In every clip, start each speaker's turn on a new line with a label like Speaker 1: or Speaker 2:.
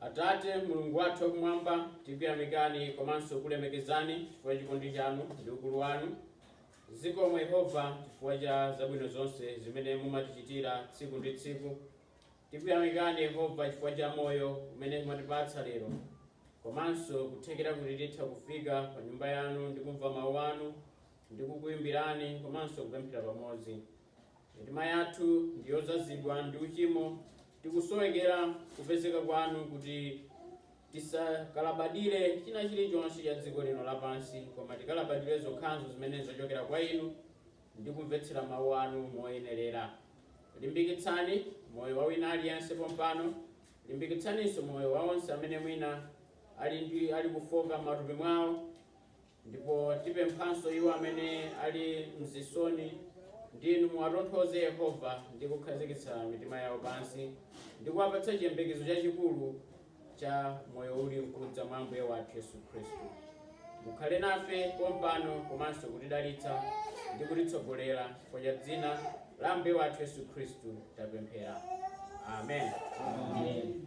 Speaker 1: Atate, Mulungu wathu wakumwamba, tikuyamikani komanso kukulemekezani chifukwa cha chikondi chanu ndi ukulu wanu. Zikomo Yehova chifukwa cha zabwino zonse zimene mumatichitira tsiku ndi tsiku. Tikuyamikani Yehova chifukwa cha moyo umene mwatipatsa lero komanso kuthekera kuti titha kufika pa nyumba yanu ndi kumva mawu anu ndi kukuyimbirani komanso kupemphera pamodzi. Mitima yathu ndi yodzazidwa ndi uchimo, tikusowekera kupezeka kwanu kuti tisakalabadire china chilichonse cha dziko lino lapansi, koma tikalabadire zokhazo zimene zachokera kwa inu ndi kumvetsera mawu anu moyenerera. Limbikitsani moyo wa wina aliyense pompano, limbikitsaninso moyo wa onse amene mwina ali kufoka m'matupi mwawo, Ndipo tipemphanso iwo amene ali mzisoni, kuti Inu muwatonthoze, Yehova, ndi kukhazikitsa mitima yawo pansi, ndi kuwapatsa chiyembekezo chachikulu cha moyo uli mkudza mwa Ambuye wathu Yesu Khristu. Mukhale nafe pompano komanso kutidalitsa ndi kutitsogolera kudzera dzina la Ambuye wathu Yesu Khristu tapemphera. Amen. Amen.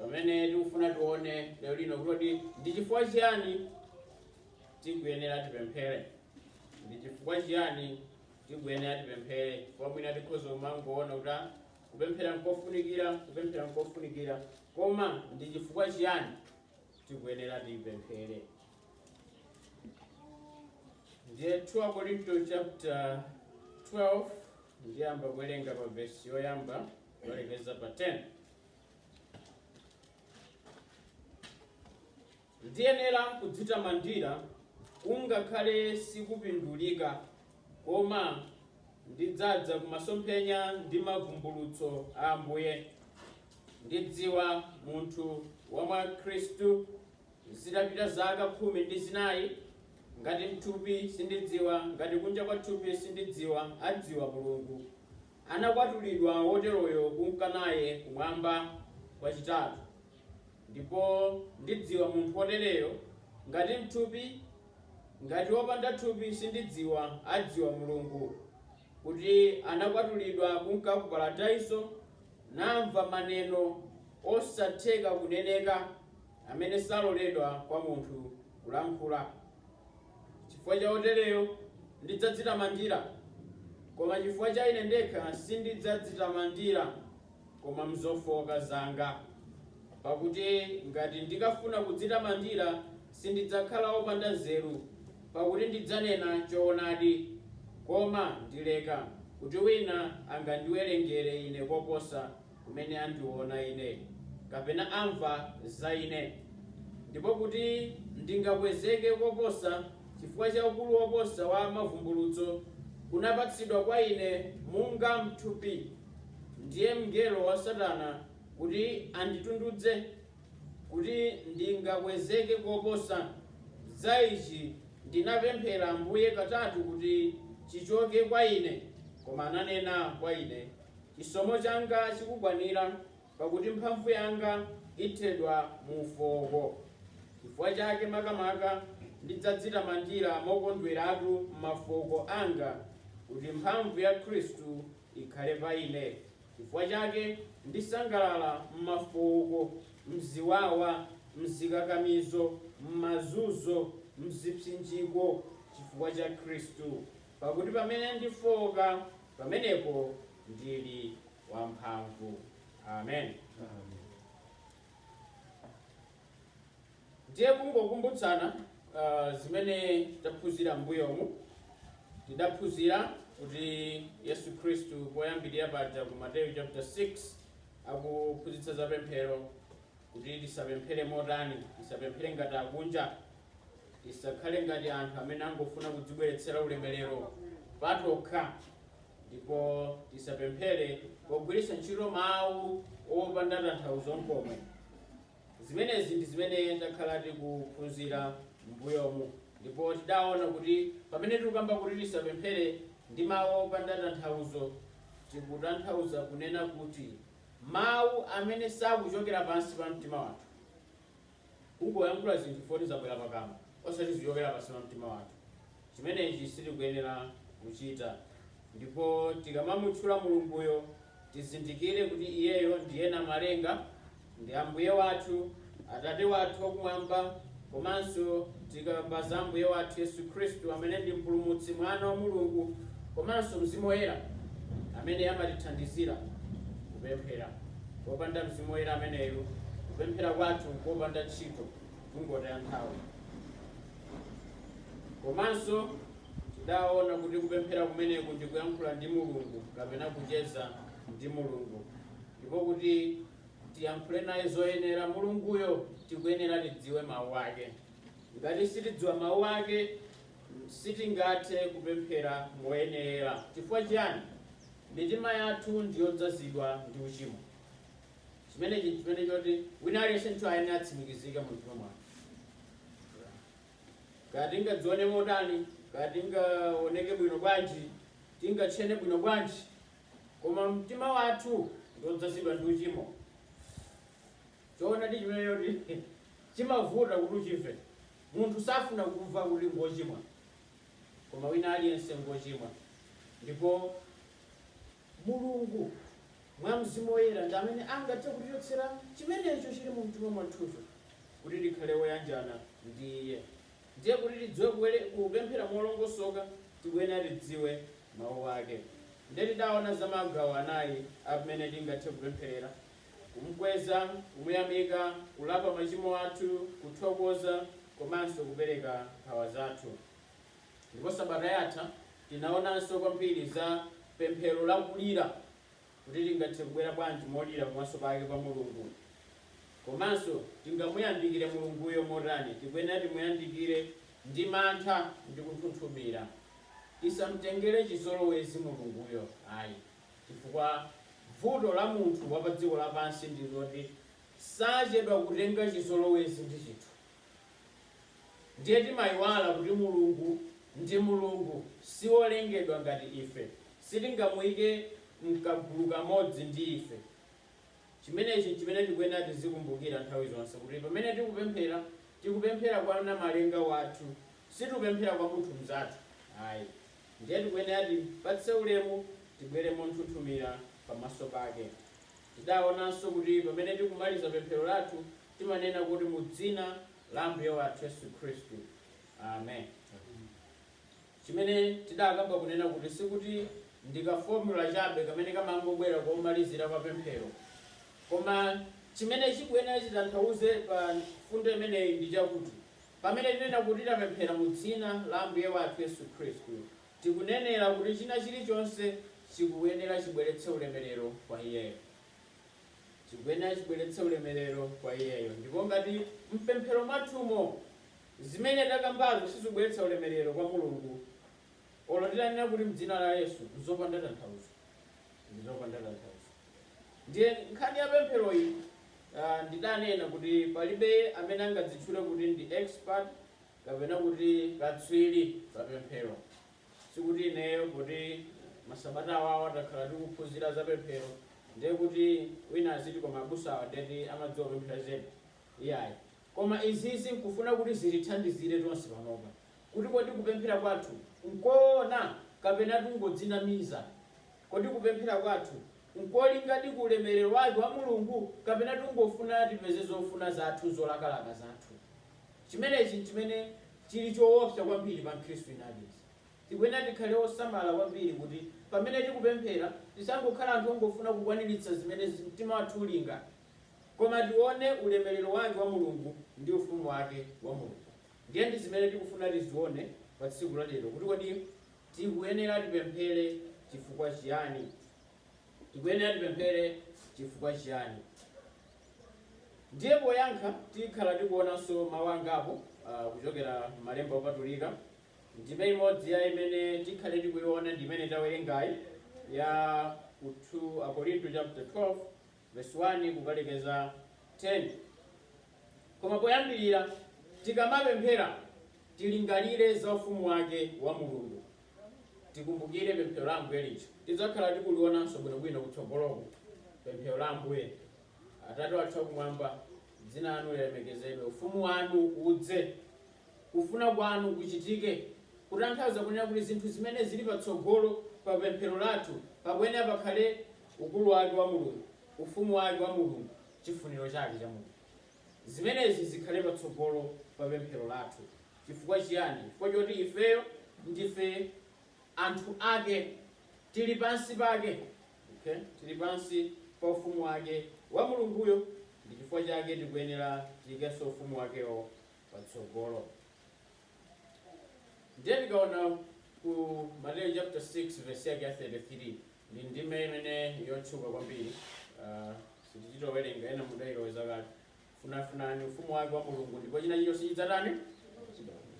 Speaker 1: pamene tikufuna tione lero lino kuti ndi chifukwa chiyani tikuyenera tipemphere ndi chifukwa chiyani tikuyenera tipemphere chifukwa mwina tikhoza kumangoona kuti ah, kupemphera nkofunikira kupemphera nkofunikira koma ndi chifukwa chiyani tikuyenera tipemphere ndiye 2 akorinto chapter 12 ndiyamba kuwerenga pa vesi yoyamba Kulekeza pa 10. Ndiyenera kudzitamandira kungakhale sikupindulika koma ndidzadza kumasomphenya ndi mavumbulutso a Ambuye. Ndidziwa munthu wa mwa Khristu zitapita zaka khumi ndi zinayi ngati mthupi sindidziwa ngati kunja kwa thupi sindidziwa adziwa Mulungu. Anakwatulidwa woteroyo kunka naye Kumwamba kwachitatu. Ndipo ndidziwa munthu wotereyo, ngati m'thupi, ngati wopanda thupi sindidziwa, adziwa Mulungu, kuti anakwatulidwa kunka ku Paradaiso, namva maneno osatheka kuneneka. amene saloledwa kwa munthu kulankhula, chifukwa cha wotereyo ndidzadzitamandira, koma chifukwa cha ine ndekha sindidzadzitamandira, koma m'zofooka zanga, pakuti ngati ndikafuna kudzitamandira, sindidzakhala wopanda nzeru, pakuti ndidzanena choonadi, koma ndileka, kuti wina angandiwerengere ine koposa. kumene andiona ine, kapena amva za ine, ndipo kuti ndingakwezeke koposa chifukwa cha ukulu woposa wa mavumbulutso kunapatsidwa kwa ine munga m'thupi, ndiye mngelo wa Satana kuti anditundudze, kuti ndingakwezeke koposa, za ichi ndinapemphera Ambuye katatu kuti chichoke kwa ine, koma ananena kwa ine, Chisomo changa chikukwanira, pakuti mphamvu yanga ithedwa mu ufooko. Chifukwa chake makamaka ndidzadzitamandira mokondweratu m'mafooko anga, kuti mphamvu ya Khristu ikhale pa ine. Chifukwa chake ndisangalala m'mafooko, m'ziwawa, m'zikakamizo, m'mazunzo, m'zipsinjiko, chifukwa cha Khristu. Pakuti pamene ndifooka, pamenepo ndili wamphamvu. Amen. Ndiye kungokumbutsana uh, zimene taphunzira m'mbuyomu tidaphunzira kuti yesu khristu poyambirira paja ku mateyu chapter 6 akuphunzitsa za pemphero kuti tisapemphere motani? Tisapemphere ngati akunja. Tisakhale ngati anthu amene angofuna kudzibweretsera ulemerero patokha. Ndipo tisapemphere pogwiritsa ntchito mawu opanda tanthauzo nkomwe. Zimenezi ndi zimene takhala tikuphunzira m'mbuyomu. Ndipo tidaona kuti pamene tikukamba kuti tisapemphere ndi mawu opanda tanthauzo, tikutanthauza kunena kuti Mawu amene sakuchokera pansi pa mtima wathu. Kungoyankhula zinthu foti zabwera pakamwa, osati zochokera pansi pa mtima wathu. Chimenechi sitikuyenera kuchita. Ndipo tikamamutchula Mulunguyo, tizindikire kuti Iyeyo ndiye Namalenga ndi Ambuye wathu. Atate wathu wakumwamba komanso tikamba za Ambuye wathu Yesu Khristu amene ndi Mpulumutsi, Mwana wa Mulungu komanso Mzimu Woyera amene amatithandizira kupemphera. Popanda Mzimu Woyera ameneyo, kupemphera kwathu nkopanda ntchito, kungotaya nthawi. Komanso tidaona kuti kupemphera kumeneku ndi kuyankhula ndi Mulungu kapena kucheza ndi Mulungu ndipo kuti tiyankhule naye zoyenera mulunguyo tikuyenera tidziwe mawu ake ngati sitidziwa mawu ake sitingathe kupemphera moyenera chifukwa chiyani mitima yathu ndiyodzazidwa ndi uchimo chimenechi nchimene choti wina aliyense wa ife ayenera atsimikizike mu mtima mwake kaya tingadzione motani kaya tingaoneke bwino bwanji tingatchene bwino bwanji Koma mtima wathu ndi wodzazidwa ndi uchimo. Choonadi chimene choti chimavuta kuti uchimve. Munthu safuna kumva kuti ngochimwa. Koma wina aliyense ngochimwa. Ndipo Mulungu mwa Mzimu Woyera ndi amene angathe kutichotsera chimenecho chili mu mtima mwathucho kuti tikhale oyanjana ndi Iye. Ndiye kuti tidziwe kupemphera molongosoka tikuyenera tidziwe mawu ake. Ndiye tidaona za magawo anayi a mmene tingathe kupempherera, kumkweza, kumuyamika, kulapa machimo athu, kuthokoza komanso kupereka nkhawa zathu. Ndipo sabata yatha tinaonanso kwambiri za pemphero la kulira. kuti tingathe kubwera bwanji molira pamaso pake pa Mulungu. Komanso tingamuyandikire Mulunguyo motani? Tikuyenera timuyandikire ndi mantha ndi kunthunthumira. Tisamtengere chizolowezi Mulunguyo ayi, chifukwa vuto la munthu wa pa dziko lapansi ndi loti sachedwa kutenga chizolowezi ndi chinthu. Ndiye timayiwala kuti Mulungu ndi Mulungu, si wolengedwa ngati ife. Sitingamuyike mkagulu kamodzi ndi ife. Chimenechi n'chimene tikuyenera tizikumbukira nthawi zonse, kuti pamene tikupemphera, tikupemphera kwa Namalenga wathu, sitikupemphera kwa munthu mzathu ayi. Ndiye tikuyenera tipatse ulemu, tibwere monthunthumira pamaso pake. Tidawonanso kuti pamene tikumaliza pemphero lathu, Timanena kuti, Mudzina la Ambuye wathu Yesu Khristu. Amen. Chimene tidakamba kunena kuti sikuti ndi ka formula chabe kamene kamangobwera komalizira kwa pemphero. Koma chimene chikuyenera chitanthauze pa mfundo imeneyi ndi chakuti pamene tinena kuti tapemphera mu dzina la Ambuye wathu Yesu Khristu, tikunenera kuti china chilichonse chikuyenera chibweretse ulemerero kwa iyeyo. chikuyenera chibweretse ulemerero kwa Iyeyo. Ndipo ngati m'pemphero mwathumo zimene takambazo sizibweretsa ulemerero kwa Mulungu, olo titanena kuti m'dzina la Yesu, nzopanda tanthauzo, ndi zopanda tanthauzo. Ndiye nkhani ya pempheroyi ah, ndidanena kuti palibe amene angadzitchule kuti ndi expert kapena kuti katswiri pa pemphero. sikuti ineyo poti masabata awawa takhala tikuphunzira za pemphero ndiye kuti wina aziti koma abusawa ndeti amadziwa kupemphera zedi iyayi koma izizi nkufuna kuti zitithandizire tonse panopa kuti kodi kupemphera kwathu nkoona kapena tingodzinamiza kodi kupemphera kwathu nkolingadi ku ulemerero wake wa mulungu kapena tingofuna tipeze zofuna zathu zolakalaka zathu Chimenechi n'chimene chili choopsa kwambiri pa Mkhristu wina aliyense. Tikuyenera tikhale osamala kwambiri kuti pamene tikupemphera tisangokhala anthu ongofuna kukwaniritsa zimene mtima wathu ulinga, koma tione ulemerero wake wa Mulungu ndi Ufumu wake wa Mulungu. Ndiye ndi zimene tikufuna tizione pa tsiku la lero kuti kodi tikuyenera tipemphere chifukwa chiyani? Tikuyenera tipemphere chifukwa chiyani? Ndiye poyankha tikhala tikuonanso mawu angapo uh, kuchokera m'malemba opatulika. Ndime imodzi ya imene tikhale tikuiona ndi imene tawerengayi ya ku 2 Akorinto chapter 12 verse 1 kukalekeza 10. Koma poyambirira tikamapemphera tilingalire za ufumu wake wa Mulungu tikumbukire pemphero la ambuye lija tidzakhala tikulionanso bwinobwino kutsogoloko pemphero la ambuye atate wathu akumwamba dzina lanu lilemekezedwe ufumu wanu udze kufuna kwanu kuchitike kutanthauza kunena kuti zinthu zimene zili patsogolo pa pemphero lathu pakuyenera pakhale ukulu wake wa mulungu ufumu wake wa mulungu chifuniro chake cha mulungu zimenezi zikhale patsogolo pa pemphero lathu Chifukwa chiyani? Chifukwa choti ifeyo ndife anthu Ake, tiri pansi pake, ok? Tiri pansi pa Ufumu Wake, wa Mulunguyo, ndi chifukwa chake tikuyenera tiyikenso Ufumu Wakewo patsogolo. Ndiye tikaona ku Mateyu chapter 6 verse yake ya 33 ndi ndime imene yotchuka kwambiri, uh, sitichita kuwerenga ena mudayiloweza kale. Funafunani ufumu wake wa Mulungu ndipo chinachilichonse chidzatani?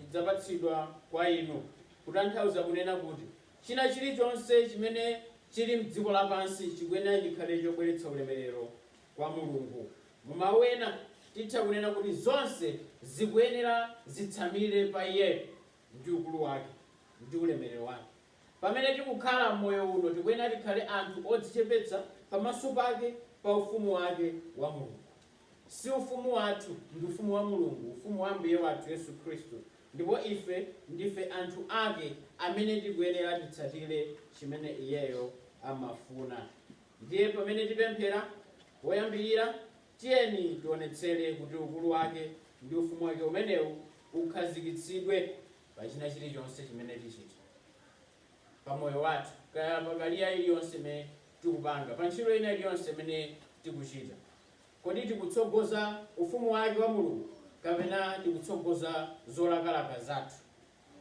Speaker 1: Chidzapatsidwa kwa inu. Kutanthauza kunena kuti chinachilichonse chimene chili mdziko lapansi chikuyenera chikhale chobweretsa ulemerero kwa Mulungu. Mu mawu ena titha kunena kuti zonse zikuyenera zitsamire pa Iye ndi ukulu wake ndi ulemerero wake. Pamene tikukhala m'moyo uno, tikuyenera tikhale anthu odzichepetsa pamaso pake pa ufumu wake wa Mulungu. Si ufumu wathu, ndi ufumu wa Mulungu, ufumu wa Ambuye wathu Yesu Khristu, ndipo ife ndife anthu ake amene tikuyenera titsatire chimene iyeyo amafuna. Ndiye pamene tipemphera poyambirira, tiyeni tionetsere kuti ukulu wake ndi ufumu wake umenewu ukhazikitsidwe. pa china chilichonse chimene tichita pa moyo wathu, kaya pa kariya iliyonse imene tikupanga, pa ntchito ina iliyonse imene tikuchita. Kodi tikutsogoza ufumu wake wa Mulungu kapena tikutsogoza zolakalaka zathu?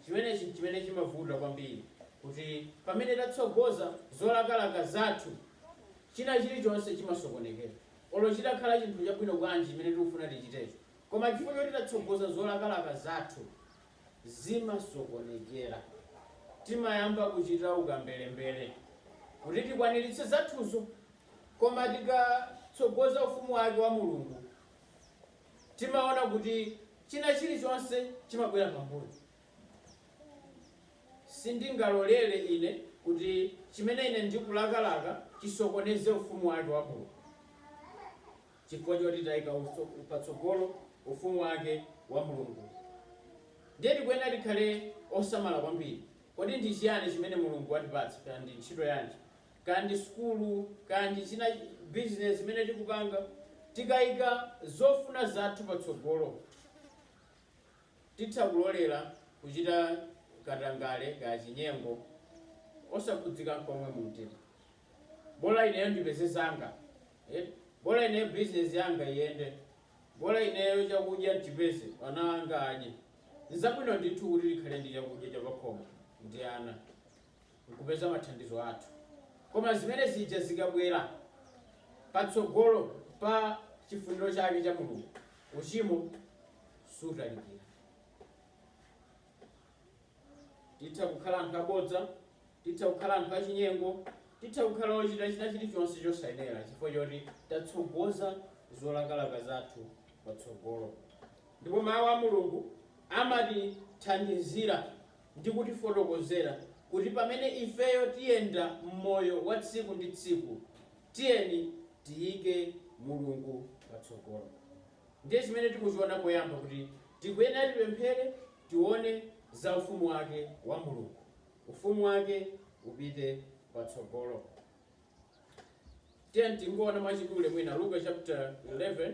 Speaker 1: Chimenechi n'chimene chimavuta kwambiri, kuti pamene tatsogoza zolakalaka zathu, china chilichonse chimasokonekera. Olo chitakhala chinthu chabwino bwanji chimene tikufuna tichitecho, Koma chifukwa choti tatsogoza zolakalaka zathu, zimasokonekera. Timayamba kuchita ukamberembere kuti tikwaniritse zathuzo. Koma tikatsogoza Ufumu wake wa Mulungu, timaona kuti china chilichonse chimabwera pambuyo. Sindingalolere ine kuti chimene ine ndikulakalaka chisokoneze Ufumu wake wa Mulungu. chifukwa choti taika patsogolo Ufumu wake wa Mulungu. Ndiye tikuyenera tikhale osamala kwambiri. Kodi ndi chiyani chimene Mulungu watipatsa? Kaya ndi ntchito yanji, kaya ndi sukulu, kaya ndi china bizinesi imene tikupanga, tikaika zofuna zathu patsogolo, Titha kulolera kuchita katangale kaya chinyengo osakhudzika nkomwe mumtima. Bola ineyo ndipeze zanga. Bola ineyo bizinezi yanga iyende. Bola ineyo chakudya nchipeze, ana anga adye. Nzabwino ndithu kuti tikhale ndi chakudya chapakhomo ndi ana. kupeza mathandizo athu. Koma zimene zija zikabwera patsogolo pa chifuniro chake cha Mulungu, uchimo sutalikira. Titha kukhala anthu abodza, titha kukhala anthu achinyengo, titha kukhala ochita china chilichonse chosayenera chifukwa choti tatsogoza zolakalaka zathu patsogolo. Ndipo mawu a Mulungu amatithandizira ndi kutifotokozera kuti pamene ifeyo tiyenda m'moyo wa tsiku ndi tsiku, tiyeni tiyike Mulungu patsogolo. Ndiye chimene tikuchiona poyamba kuti tikuyenera tipemphere, tione za ufumu wake wa Mulungu. Ufumu wake upite patsogolo. Tiyeni tingoona mwachidule mwina Luka chapter 11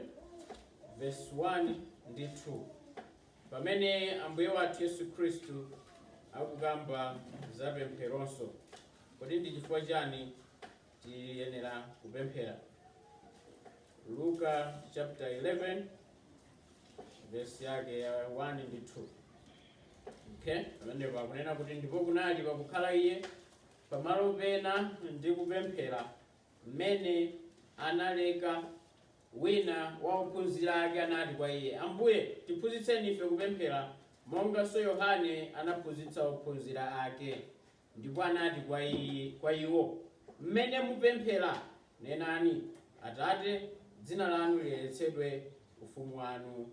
Speaker 1: verse 1 ndi 2. Pamene Ambuye wathu Yesu Khristu akukamba za pempheronso, kodi ndi chifukwa chani tiyenera kupemphera? Luka chapter 11 verse yake ya 1 ndi 2. Okay, pamenepo akunena kuti ndipo kunali pakukhala iye pamalo pena ndi kupemphera mmene analeka Wina wa ophunzira ake anati kwa Iye, Ambuye, tiphunzitseni ife kupemphera, monganso Yohane anaphunzitsa ophunzira ake. Ndipo anati kwa iwo, M'mene mupemphera, nenani, Atate, dzina lanu liyeretsedwe, ufumu wanu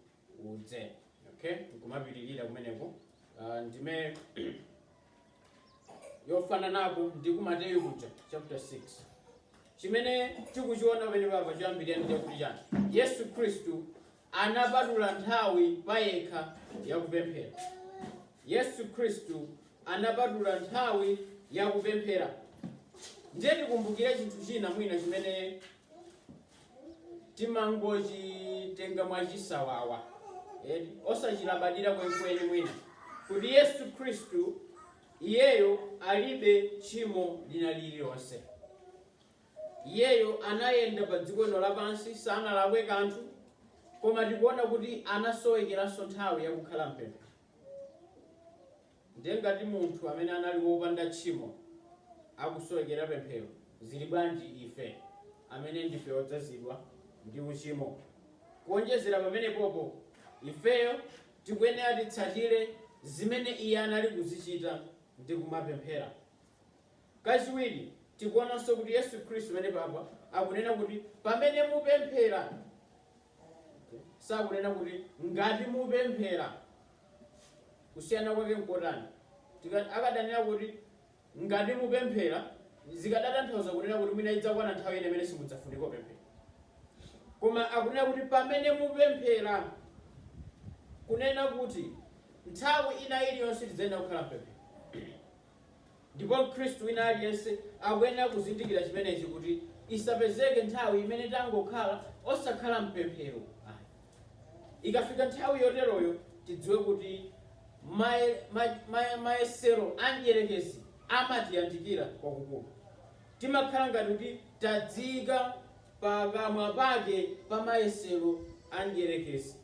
Speaker 1: udze okay nkumapitirira kumeneko Ah, ndime yofananapo ndi ku mateyu kuja chapter 6 chimene tikuchiona pamene papa choyambirira ndi chakuti chani yesu khristu anapatula nthawi payekha yakupemphera yesu khristu anapatula nthawi yakupemphera ndiye tikumbukire chinthu china mwina chimene timangochitenga mwachisawawa eh, osachilabadira kwenikweni mwina kuti yesu khristu iyeyo alibe tchimo lina lililonse iyeyo anayenda pa dziko lino lapansi sanalakwe kanthu koma tikuona kuti anasowekeranso nthawi yakukhala mpemphero Ndiye ngati munthu amene anali wopanda tchimo akusowekera pemphero, zili bwanji ife amene ndife odzazidwa ndi uchimo? Kuonjezera pamenepopo, ifeyo tikuyenera titsatire zimene iye anali kuzichita ndi kumapemphera. Kachiwiri, tikuonanso kuti Yesu Khristu pamenepapa akunena kuti pamene mupemphera. sakunena kuti ngati mupemphera kusiyana kwake nkotani Tika- akadanena kuti ngati mupemphera zikadatanthauza kunena kuti mwina idzakwana nthawi ina imene simudzafunika kupemphera koma akunena kuti pamene mupemphera kunena kuti nthawi ina iliyonse tidzayenera kukhala mpemphero Ndipo Mkhristu wina aliyense akuyenera kuzindikira chimenechi, kuti isapezeke nthawi imene tangokhala osakhala m'pemphero ayi. Ikafika nthawi yoteroyo, tidziwe kuti maye, ma, ma, mayesero a mdierekezi amatiyandikira kwakukulu. Timakhala ngati kuti tadziyika pakamwa pake pa mayesero a mdierekezi.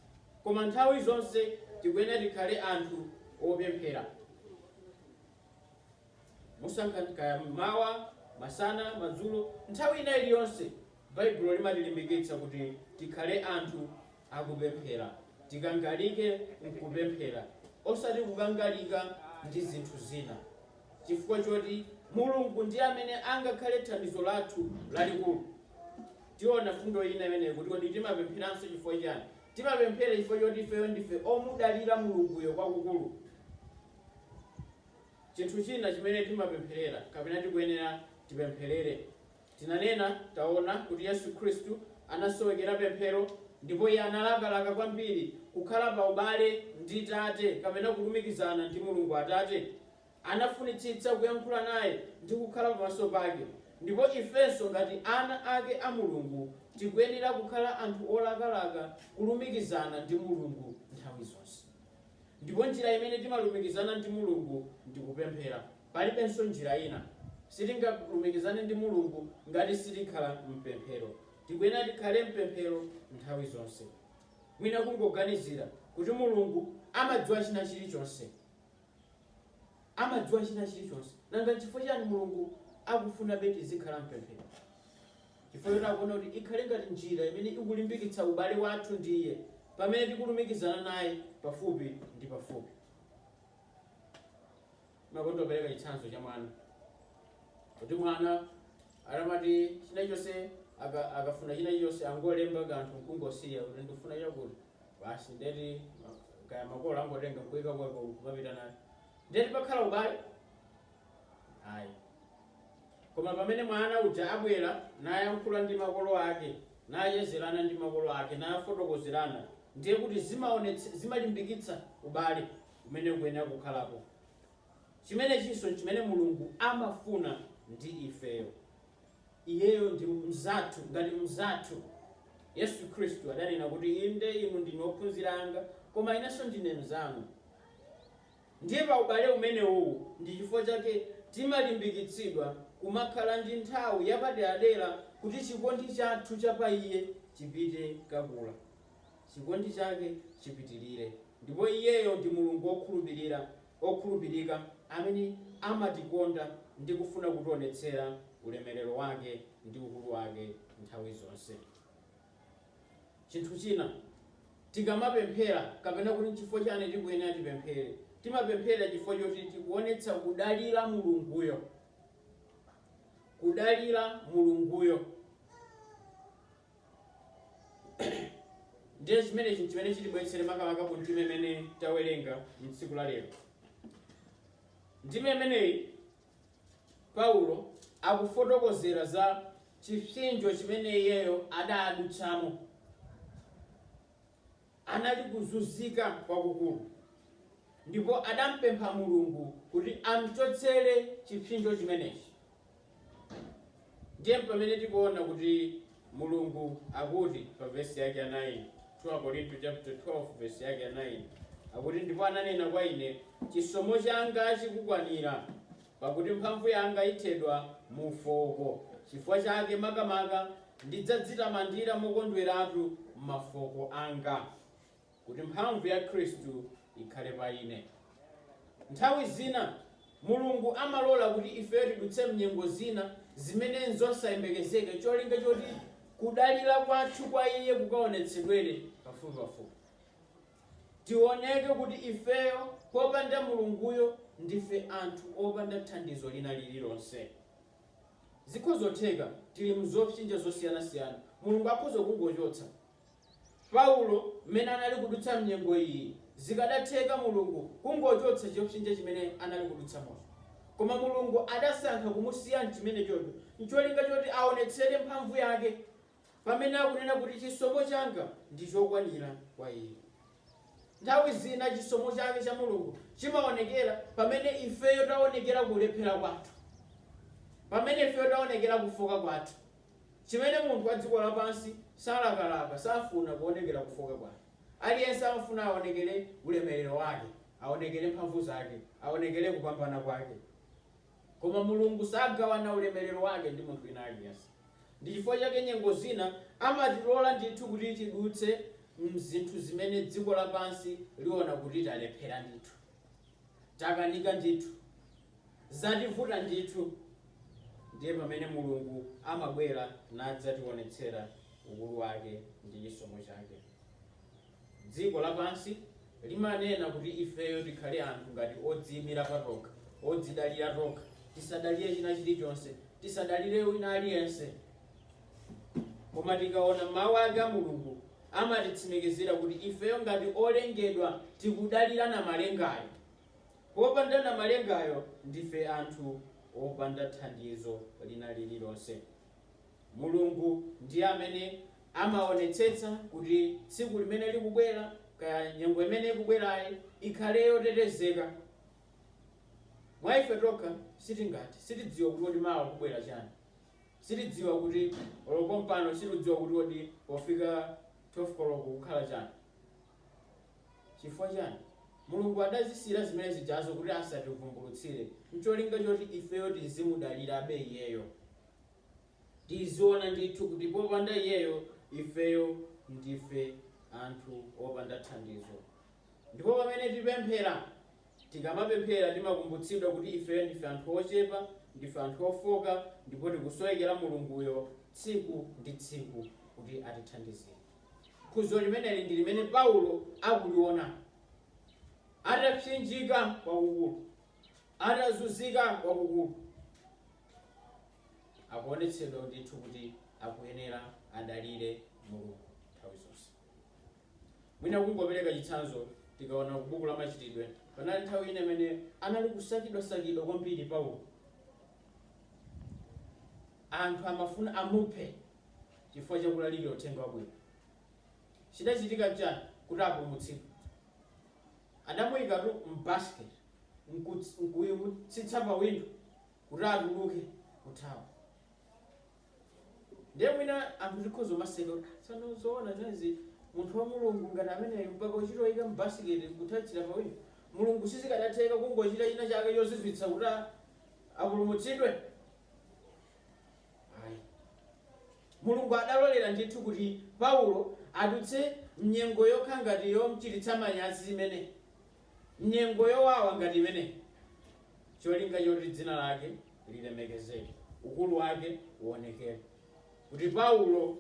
Speaker 1: Koma nthawi zonse tikuyenera tikhale anthu opemphera. Musankha kaya m'mawa, masana, madzulo, nthawi ina iliyonse. Baibulo limatilimbikitsa kuti tikhale anthu akupemphera. Tikangalike nkupemphera osati kukangalika ndi zinthu zina. Chifukwa choti Mulungu ndiye amene angakhale thandizo lathu lalikulu. Tiona fundo ina imene ikuti kodi timapempheranso chifukwa chiyani? Timapemphera chifukwa choti ifeyo ndife omudalira Mulunguyo kwakukulu. Chinthu china chimene timapempherera kapena tikuyenera tipempherere, tinanena, taona, kuti Yesu Khristu anasowekera pemphero ndipo Iye analakalaka kwambiri kukhala pa ubale ndi Tate kapena kulumikizana ndi Mulungu Atate. Anafunitsitsa kuyankhula naye ndi kukhala pamaso pake. Ndipo ifenso ngati ana ake a Mulungu, tikuyenera kukhala anthu olakalaka kulumikizana ndi Mulungu nthawi zonse. Ndipo njira imene timalumikizana ndi Mulungu ndi kupemphera. Palibenso njira ina. Sitingalumikizane ndi Mulungu ngati sitikhala m'pemphero. Tikuyenera tikhale m'pemphero nthawi zonse. Mwina kungoganizira kuti Mulungu amadziwa china chilichonse. amadziwa china chilichonse. Nanga nchifukwa chiyani Mulungu akufunabe tizikhala m'pemphero? Chifukwa choti akuona kuti ikhale ngati njira imene ikulimbikitsa ubale wathu ndi iye pamene tikulumikizana naye pafupi ndi pafupi. Ndimakonda kupereka chitsanzo cha mwana, kuti mwana. Atamati chinachonse aka- akafuna chinachonse angolemba kanthu nkungosiya kuti ndikufuna chakuti basi ndiye kuti ma- kaya makolo angotenga nkuika kweko kumapita nayo ndiye kuti pakhala ubale ayi koma pamene mwana uja abwera nayankhula ndi makolo ake nauzirana ndi makolo ake nafotokozerana ndiye kuti zimaonetse- zimalimbikitsa ubale umene ukuyenera kukhalapo Chimenechinso n'chimene Mulungu amafuna ndi ifeyo. Iyeyo ndi mnzathu, ngati mnzathu. Yesu Khristu adanena kuti, Inde, inu ndinu ophunzira anga, koma inenso ndine mnzanu. Ndiye pa ubale umenewuwu ndi chifukwa chake timalimbikitsidwa kumakhala ndi nthawi yapaderadera kuti chikondi chathu cha pa iye chipite chikula. chikondi chake chipitirire. Ndipo Iyeyo ndi Mulungu wokhulupirira, wokhulupirika amene amatikonda ndi kufuna kutionetsera ulemerero wake ndi ukulu wake nthawi zonse. Chinthu china, tikamapemphera kapena kuti n'chifukwa chiyani tikuyenera tipemphere, timapemphera chifukwa choti tikuonetsa kudalira Mulunguyo, kudalira Mulunguyo. ndiye chimenechi nchimene chitibweretsere makamaka ku ndime imene tawerenga mtsiku la lero ndime imeneyi paulo akufotokozera za chipsinjo chimene iyeyo adadutsamo anali kuzunzika kwakukulu, ndipo adampempha Mulungu kuti amchotsere chipsinjo chimenechi. Ndiye mpamene tikuona kuti Mulungu akuti pa vesi yake ya 9, 2 Akorinto chapter 12 vesi yake ya 9, akuti ndipo ananena kwa ine, chisomo changa chikukwanira, Pakuti mphamvu yanga ithedwa mu ufooko, chifukwa chake makamaka ndidzadzitamandira mokondweratu m'mafooko anga, kuti mphamvu ya Khristu ikhale pa ine. Nthawi zina Mulungu amalola kuti ifeyo tidutse m'nyengo zina zimene n'zosayembekezeka cholinga choti kudalira kwathu kwa Iye kukaonetsedwere pafupipafupi. Tiwoneke kuti ifeyo popanda Mulunguyo ndife anthu opanda thandizo lina lililonse. Zikhozotheka tili mzopsinja zosiyanasiyana, Mulungu akhoza kungochotsa. Paulo mmene anali kudutsa mnyengo iyi, zikadatheka Mulungu kungochotsa chopsinja chimene anali kudutsamocho. Koma Mulungu adasankha kumusiya mchimenechocho ncholinga choti awonetsere mphamvu yake pamene akunena kuti chisomo changa ndi chokwanira kwa iye. Nthawi zina chisomo chake cha Mulungu chimaonekera pamene ifeyo taonekera kulephera kwathu, pamene ifeyo taonekera kufoka kwathu, chimene munthu wa dziko lapansi salakalaka, safuna kuonekera kufoka kwake. Aliyense amafuna aonekere ulemerero wake, aonekere mphamvu zake, aonekere kupambana kwake. Koma Mulungu sagawana ulemerero wake ndi munthu wina aliyense. Ndi chifukwa chake nyengo zina amatilola ndithu kuti tidutse m'zinthu zimene dziko lapansi liona kuti talephera ndithu, takanika ndithu, zativuta ndithu, ndiye pamene Mulungu amabwera nadzationetsera ukulu wake ndi chisomo chake. Dziko lapansi limanena kuti ifeyo tikhale anthu ngati odziimira patokha, odzidalira tokha, tisadalire china chilichonse, tisadalire wina aliyense. Koma tikaona Mau ake a Mulungu amatitsimikizira kuti ifeyo ngati olengedwa tikudalira Namalengayo. Popanda Namalengayo ndife anthu opanda thandizo lina lililonse. Mulungu ndiye amene amaonetsetsa kuti tsiku limene likubwera, kaya nyengo imene ikubwerayi, ikhale yotetezeka. Mwa ife tokha sitingathe. Sitidziwa kuti kodi mawa kubwera chani. Sitidziwa kuti olo pompano sitidziwa kuti kodi pofika 12 koloko kukhala chani. Chifukwa chani? Mulungu adazisiyira zimene zijazo kuti asativumbulutsire n'cholinga choti ifeyo tizimudalirabe Iyeyo. Tiziona ndithu kuti popanda Iyeyo, ifeyo ndife anthu opanda thandizo. Ndipo pamene tipemphera, tikamapemphera timakumbutsidwa kuti ifeyo ndife anthu ochepa, ndife anthu ofooka ndipo tikusowekera Mulunguyo tsiku ndi tsiku kuti atithandizire. Phunziro limeneli ndi limene Paulo akuliona. Atapsinjika kwakukulu, atazunzika kwakukulu, akuonetsedwa ndithu kuti akuyenera adalire Mulungu nthawi zonse. Mwina kungopereka chitsanzo, tikaona ku buku la Machitidwe, panali nthawi ina imene anali kusakidwasakidwa kwambiri Paulo. Anthu amafuna amuphe chifukwa cha kulalikira uthenga wabwino. Chidachitika n'chani kuti apulumutsidwe? Adamuyikatu mu basket n'kutsitsa pa window kuti atuluke kuthawa. Ndiye mwina anthu tikhoza kumaseka kuti ah tsono zoona zimenezi munthu wa Mulungu ngati ameneyu mpaka kuchita kuyika mu basket n'kuthawira pa window? Mulungu sizikadatheka kungochita chinachake chozizwitsa kuti apulumutsidwe? Ayi. Mulungu adalolera ndithu kuti Paulo adutse m'nyengo yokha ngati yomchititsa manyazi imene, m'nyengo yowawa ngati imene, cholinga choti dzina lake lilemekezeke, ukulu wake uwonekere. Kuti Paulo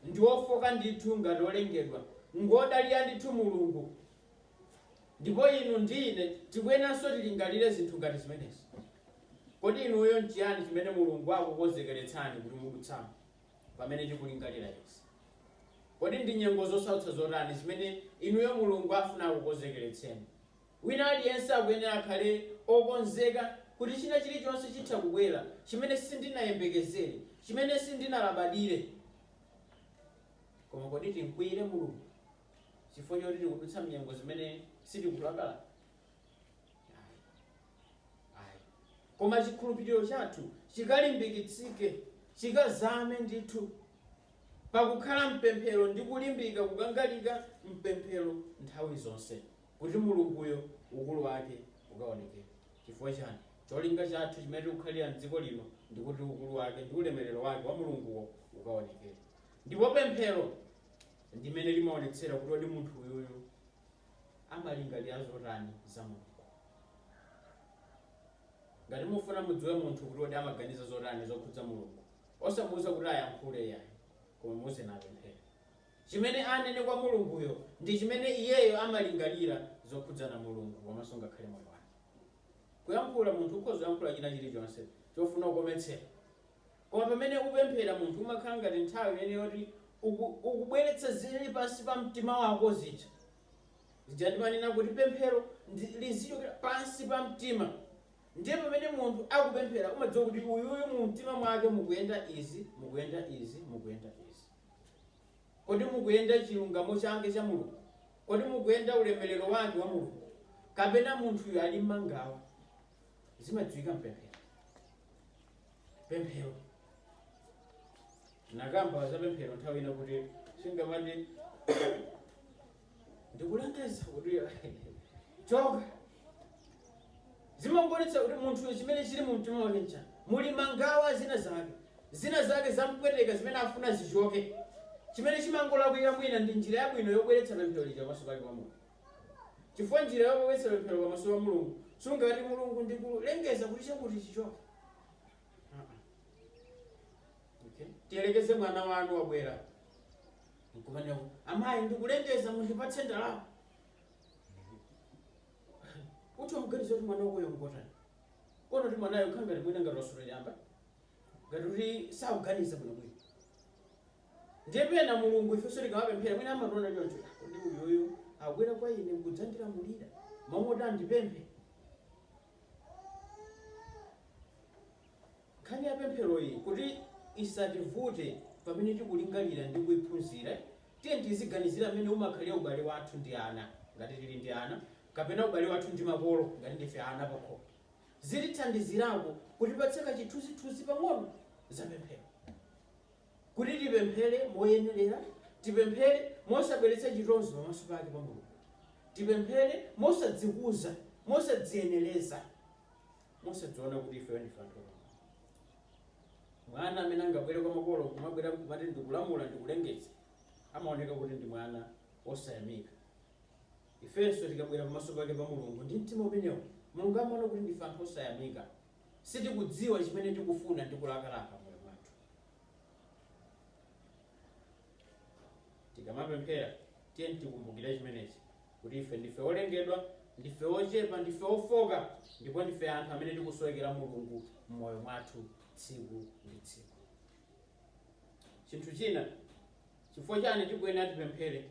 Speaker 1: ndi wofoka ndithu ngati olengedwa, ngwodalira ndithu Mulungu. Ndipo inu ndi ine tikuyenanso tilingalire zinthu ngati zimenezi. Kodi inuyo nchiyani chimene Mulungu akukonzekeretsani kuti mudutsamo pamene tikulingalira izi? Kodi ndi nyengo zosautsa zotani zimene inuyo Mulungu afuna akukonzekeretseni? Wina aliyense akuyenera akhale okonzeka kuti china chilichonse chitha kubwera chimene sindinayembekezere, chimene sindinalabadire. Koma kodi timkwiyire Mulungu? chifukwa choti tikudutsa mnyengo zimene sitikulakalaka koma chikhulupiriro chathu chikalimbikitsike chikazame ndithu pakukhala mpemphero ndi kulimbika kukangalika mpemphero nthawi zonse kuti mulunguyo ukulu wake ukaonekere chifukwa chani cholinga chathu chimene tikukhalira mdziko lino ndi kuti ukulu wake ndi ulemerero wake wa mulunguwo ukaonekere ndipo pemphero ndimene limaonetsera kuti odi munthu uyuyu amalingalira zotani za Mulungu. Ngati mufuna mudziwe munthu kuti odi amaganiza zotani zokhudza Mulungu, osamuuza kuti ayankhule iyayi, koma muuzeni apemphere. Chimene anene kwa Mulunguyo ndi chimene iyeyo amalingalira zokhudzana Mulungu komanso ngakhale moyo wake. Kuyankhula, munthu ukhoza kuyankhula china chilichonse chofuna kukometsera. Koma pamene upemphera, munthu, umakhala ngati nthawi imene yoti uku, ukubweretsa zili pansi pa mtima wako zija. Zija ndimanena kuti pemphero ndi, lizichokera pansi pa mtima. Ndiye pamene munthu akupemphera, umadziwa kuti uyuyu mu mtima mwake mukuyenda izi, mukuyenda izi, mukuyenda izi. Kodi mukuyenda chilungamo chake cha Mulungu? Kodi mukuyenda ulemerero wake wa Mulungu? Kapena munthuyu ali mmangawa? Zimadziwika mpemphero. pemphero nakamba za pemphero nthawi ina kuti sungamati ndikulengeza kuti choka zimangonetsa kuti munthu chimene chili mu mtima wake ncha muli mangawa zina zake zina zake zampweteka zimene afuna zichoke chimene chimangolakwika mwina ndi njira yabwino yobweretsa pemphero lija pamaso pake kwa Mulungu Chifukwa njira yobweretsa pemphero pamaso pa Mulungu sungati Mulungu ndikulengeza kuti chakuti chichoke. Uh-uh. Okay. Tiyerekeze mwana wanu wabwera nkumanena amayi ndikulengeza mundipatse ndalama kuti umuganiza kuti mwana wakoyo ngotani kono kuti mwanayo khangati mwina ngati wasuta chamba ngati kuti sakuganiza bwinobwino Ndiye pena Mulungu ifenso tikamapemphera mwina amationa choncho, kodi uyuyu akubwera kwa ine nkudzandilamulira mmalo moti andipemphe? Nkhani ya pempheroyi kuti isativute pamene tikulingalira ndi kuiphunzira, tiyeni tiziganizira mmene umakhalira ubale wathu ndi ana, ngati tili ndi ana, kapena ubale wathu ndi makolo, ngati ndife ana pakhomo. Zitithandizirako kutipatsa kachithunzithunzi pang'ono za pemphero. Kuti tipemphere moyenerera, tipemphere mosabweretsa chitonzo pamaso pake pa Mulungu. Tipemphere mosadzikuza, mosadziyenereza, mosadziona kuti ifeyo ndife anthu apamwamba. Mwana amene angabwere kwa makolo kumabwera kumati ndikulamula ndikulengeza, amaoneka kuti ndi mwana wosayamika. Ifenso tikabwera pamaso pake pa Mulungu ndi mtima umenewo, Mulungu amaona kuti ndife anthu osayamika. sitikudziwa chimene tikufuna ndi kulakalaka m'moyo mwathu. Tikamapemphera, tiyeni tikumbukire chimenechi kuti ife ndife olengedwa, ndife ochepa, ndife ofoka, ndipo ndife anthu amene tikusowekera Mulungu m'moyo mwathu tsiku ndi tsiku. Chinthu china, chifukwa chani tikuyenera tipemphere?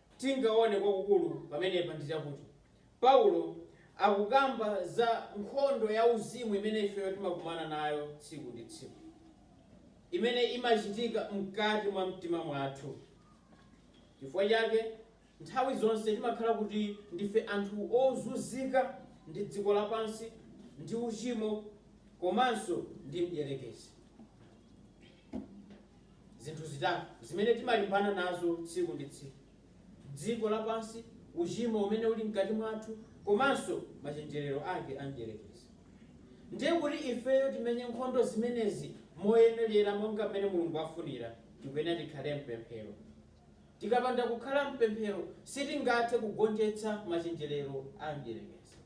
Speaker 1: tingaone kwakukulu pamenepa ndi chakuti Paulo akukamba za nkhondo ya uzimu imene ifeyo timakumana nayo tsiku ndi tsiku, imene imachitika mkati mwa mtima mwathu. Chifukwa chake, nthawi zonse timakhala kuti ndife anthu ozunzika ndi dziko lapansi, ndi uchimo, komanso ndi mdierekezi. Zinthu zitatu zimene timalimbana nazo tsiku ndi tsiku, dziko lapansi, uchimo umene uli mkati mwathu komanso machenjerero ake a mdyerekezi. Ndiye kuti ifeyo timenye nkhondo zimenezi moyenerera monga mmene Mulungu afunira, tikuyenera tikhale m'pemphero. Tikapanda kukhala m'pemphero, sitingathe kugonjetsa machenjerero a mdierekezi.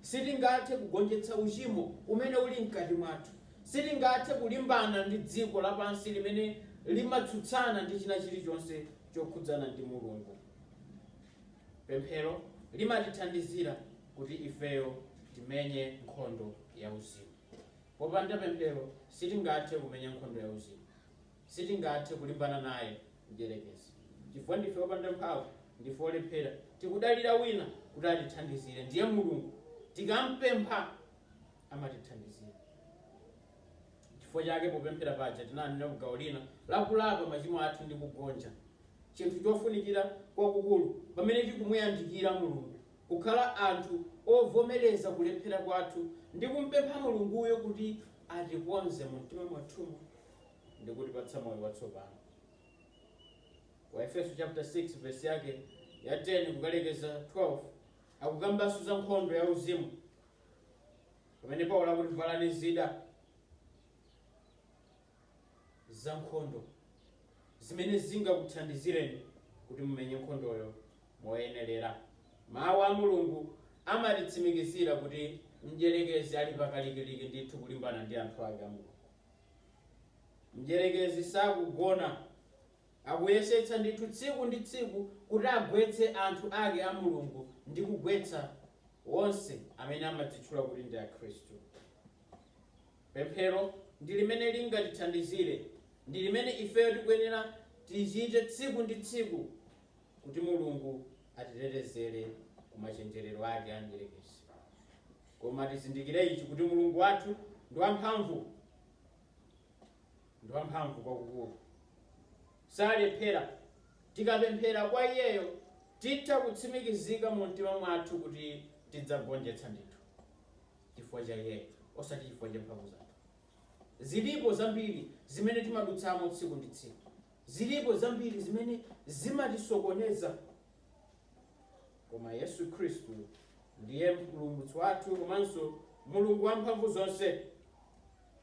Speaker 1: Sitingathe kugonjetsa uchimo umene uli mkati mwathu. Sitingathe kulimbana ndi dziko lapansi limene limatsutsana ndi china chilichonse chokhudzana ndi Mulungu. Pemphero limatithandizira kuti ifeyo timenye nkhondo yauzimu. Popanda pemphero sitingathe kumenya nkhondo yauzimu. Sitingathe kulimbana naye mdyerekezi chifukwa ndife opanda mphamvu, ndife olephera. Tikudalira wina kuti atithandizire ndiye Mulungu. Tikampempha amatithandizira. Chifukwa chake popemphera paja tinanena ku gawo lina la kulapa machimo athu ndi kugonja, chinthu chofunikira kwakukulu pamene tikumuyandikira Mulungu, kukhala anthu ovomereza kulephera kwathu ndi kumpempha Mulunguyo kuti atikonze mu mtima mwathumo. ndi kutipatsa moyo watsopano. Ku Aefeso chapter 6 verse yake ya 10 kukalekeza 12 akukambanso za nkhondo ya uzimu pamene Paulo akuti valani zida za nkhondo zimene zingakuthandizireni kuti mumenye nkhondoyo moyenerera. Mawu a Mulungu amatitsimikizira kuti mdyerekezi ali pakalikiliki ndithu kulimbana ndi anthu ake a Mulungu. Mdyerekezi sakugona. Akuyesetsa ndithu tsiku ndi tsiku kuti agwetse anthu ake a Mulungu ndi kugwetsa onse amene amadzitchula kuti ndi Akhristu. Pemphero ndi limene lingatithandizire. Ndi limene ifeyo tikuyenera tilichite tsiku ndi tsiku kuti Mulungu atitetezere ku machenjerero ake a Mdyerekezi. Koma tizindikire ichi, kuti Mulungu wathu ndi wamphamvu, ndi wamphamvu kwakukulu, salephera. Tikapemphera kwa Iyeyo, titha kutsimikizika mu mtima mwathu kuti tidzagonjetsa ndithu, chifukwa cha Iyeyo, osati chifukwa cha mphamvu zathu. Zilipo zambiri zimene timadutsamo tsiku ndi tsiku. Zilipo zambiri zimene zimatisokoneza. koma Yesu Khristu ndiye mpulumutsi wathu komanso mulungu wamphamvu zonse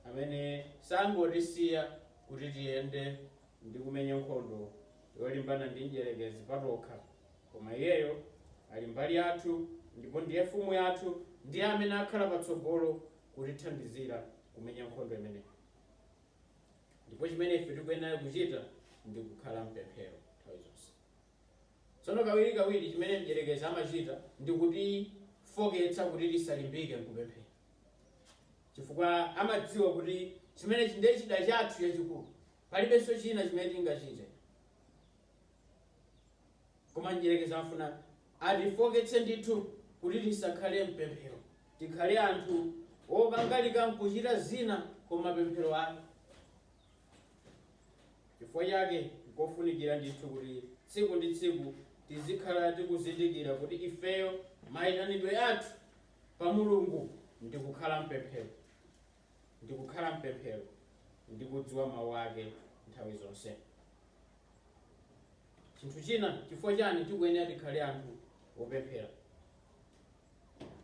Speaker 1: amene sangotisiya kuti tiyende ndi kumenya nkhondo yolimbana ndi mdyerekezi patokha koma iyeyo ali mbali yathu ndipo ndiye mfumu yathu ndiye amene akhala patsogolo kutithandizira kumenya nkhondo imeneyi ndipo chimene ife tikuyenera kuchita ndi kukhala mpemphero nthawi zonse Tsono, kawirikawiri chimene mdyerekezi amachita ndi kutifoketsa kuti tisalimbike mkupemphera, chifukwa amadziwa kuti chimene ndiye chida chathu chachikulu, palibenso china chimene tingachite. Koma mdyerekezi afuna atifoketse ndithu kuti tisakhale mpemphero, tikhale anthu okangalika mkuchita zina koma pemphero ayi. Chifukwa chake, nkofunikira ndithu kuti tsiku ndi tsiku tizikhala tikuzindikira kuti ifeyo maitanidwe athu pa Mulungu ndi kukhala mpemphero, ndi kukhala mpemphero ndi kudziwa Mau ake nthawi zonse. Chinthu china, chifukwa chani tikuyenera tikhale anthu opemphera?